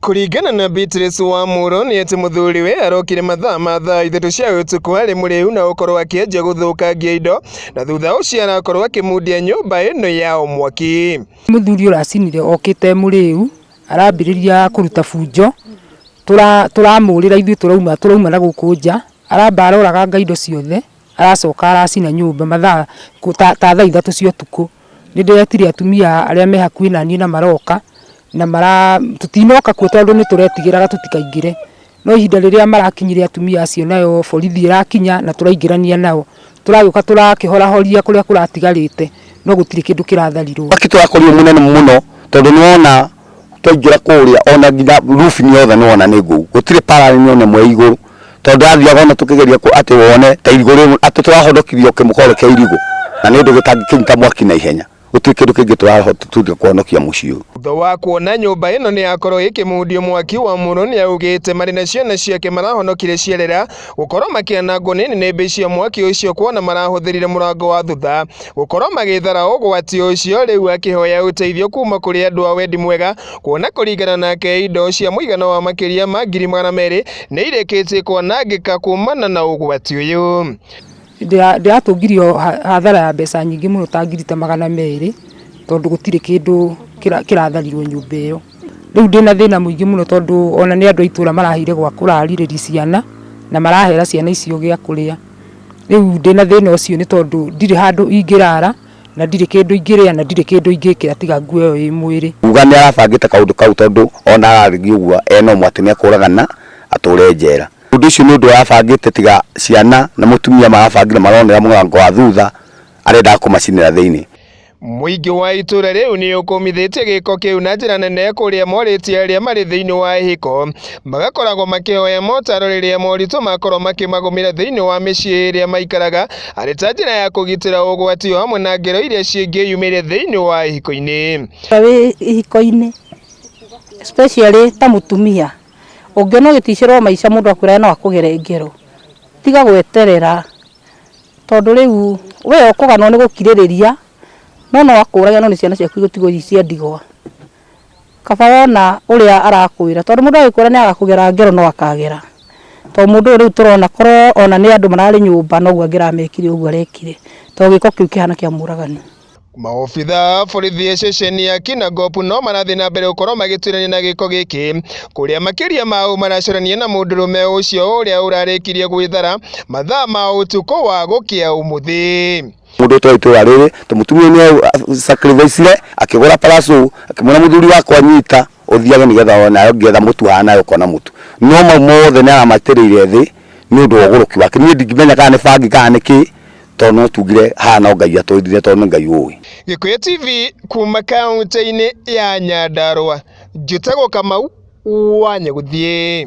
Kũringana na Beatrice Wamũrũ nĩ atĩ mũthuriwe arokire mathaa ma thaa ithatũ cia ũtukũ arĩ mũrĩu na gũkorwo akĩanjia gũthũkangia indo na thutha ũcio arakorwo akĩmundia nyũmba ĩno yao mwaki. Mũthuri ũracinire okĩte mũrĩu arambĩrĩria kũruta bunjo, tũramũrĩra ithuĩ tũrauma na gũkũ nja, aramba aroraganga indo ciothe. aracoka aracina nyũmba mathaa ta thaa ithatũ cia ũtukũ, nĩ ndĩretire atumia arĩa me hakuhĩ na niĩ na maroka, na mara, tũtinoka kuo tondũ nĩ tũretigĩraga tũtikaingĩre, no ihinda rĩrĩa marakinyire atumia acio nayo borithi ĩrakinya na tũraingĩrania nao, tũragĩũka tũrakĩhorahoria kũrĩa kũratigarĩte no gũtirĩ kĩndũ kĩratharirwo. Mwaki tũrakorirwo mũnene mũno tondũ nĩ wona... twaingĩra kũrĩa ona nginya roof ni yothe nĩwona nĩ ngũu gũtirĩ parallel ni ona ĩmwe ĩ igũrũ tondũ yathiaga ona tũkĩgeria ku atĩ wone ta irigũ rĩmwe atĩ tũrahonokithio kĩmũkore kĩa irigũ na nĩ ũndũ gĩtangĩkĩnyita mwaki na ihenya gũtirĩ kĩndũ kĩngĩ tũrahotithia kũhonokia mũciĩ ũyũ. Thutha wa kuona nyũmba ĩno nĩ yakorwo ĩkĩmundio mwaki, Wamũrũ nĩ augĩte marĩ na ciana ciake marahonokire ciarĩra gũkorwo makĩanangwo nĩ nĩnĩmbĩ cia mwaki ũcio kuona marahũthĩrire mũrango wa thutha gũkorwo magĩthara ũgwati ũcio rĩu akĩhoya ũteithio kuma kũrĩ andũ a wendi mwega kuona kũringana nake indo cia mũigana wa makĩria ma ngiri magana merĩ nĩ irĩkĩtie kwanangĩka kumana na ũgwati ũyũ Ndĩra- ndĩratũngirio ha- hathara ya mbeca nyingĩ mũno ta ngiri ta magana merĩ tondũ gũtirĩ kĩndũ kĩra- kĩratharirwo nyũmba ĩyo. Rĩu ndĩna thĩna mũingĩ mũno tondũ ona nĩ andũ a itũra maraheire gwa kũrarĩrĩria ciana na marahera ciana icio gĩa kũrĩa. Rĩu ndĩna thĩna ũcio nĩ tondũ ndirĩ handũ ingĩrara na ndirĩ kĩndũ ingĩrĩa na ndirĩ kĩndũ ingĩkĩra tiga nguo ĩyo ĩ mwĩrĩ. Kuga nĩ arabangĩte kaũndũ kau tondũ ona ararĩria ũguo ena ũmwe atĩ nĩ ekũragana atũre njera. Ũndũ ũcio nĩ ũndũ arabangĩte tiga ciana na mũtumia marabangire maronera mũrango wa thutha arendaga kũmacinĩra thĩinĩ. Mũingĩ wa itũra rĩu nĩ ũkũmithĩtie gĩko kĩu na njĩra nene kũrĩa morĩtie arĩa marĩ thĩinĩ wa ihiko magakoragwo makĩhoya motaro rĩrĩa moritũ makorwo makĩmagũmĩra thĩinĩ wa mĩciĩ ĩrĩa maikaraga arĩ ta njĩra ya kũgitĩra ũgwati o hamwe na ngero iria cingĩyumĩria thĩinĩ wa ihiko-inĩ. Ihiko-inĩ especially ta mũtumia Ũngĩona ũgĩticĩrwo maica mũndũ akwĩrage no akũgere ngero, tiga gweterera tondũ rĩu we ũkũganwo nĩ gũkirĩrĩria no no akũrage no nĩ ciana ciaku igũtigwo ci cia ndigwa. Kaba wona ũrĩa arakwĩra tondũ mũndũ agĩkwĩra nĩ agakũgera ngero no akagera. To mũndũ ũyũ rĩu tũrona korwo ona nĩ andũ mararĩ nyũmba noguo angĩramekire ũguo arekire to gĩko kĩu kĩhana kĩa mũragani. Maobitha a borithi ceceni ya Kinangop no marathiĩ na mbere gũkorwo magĩtuĩrania na gĩko gĩkĩ kũrĩa makĩria ma ũũ maracũrania na mũndũrũme ũcio ũrĩa ũrarĩkirie gwĩthara mathaa ma ũtukũ wa gũkĩa ũmũthĩ mundu twa itũra riri tumutumia ni sacrifice akigura parasu akimwira muthuri wakwa nyita uthiage nigetha ona ayo ngetha mutu hana ukona mutu no mau mothe ni aramatirire thi ni undu wa uguruki wake ni ndingimenya kana ni bangi kana ni ki tondũ no tugire haha no Ngai atwĩrire tondũ nĩ Ngai ũĩ. Gĩkũyũ TV kuuma kaũntĩ-inĩ ya Nyandarũa, njĩtagwo Kamau wa Nyagũthiĩ.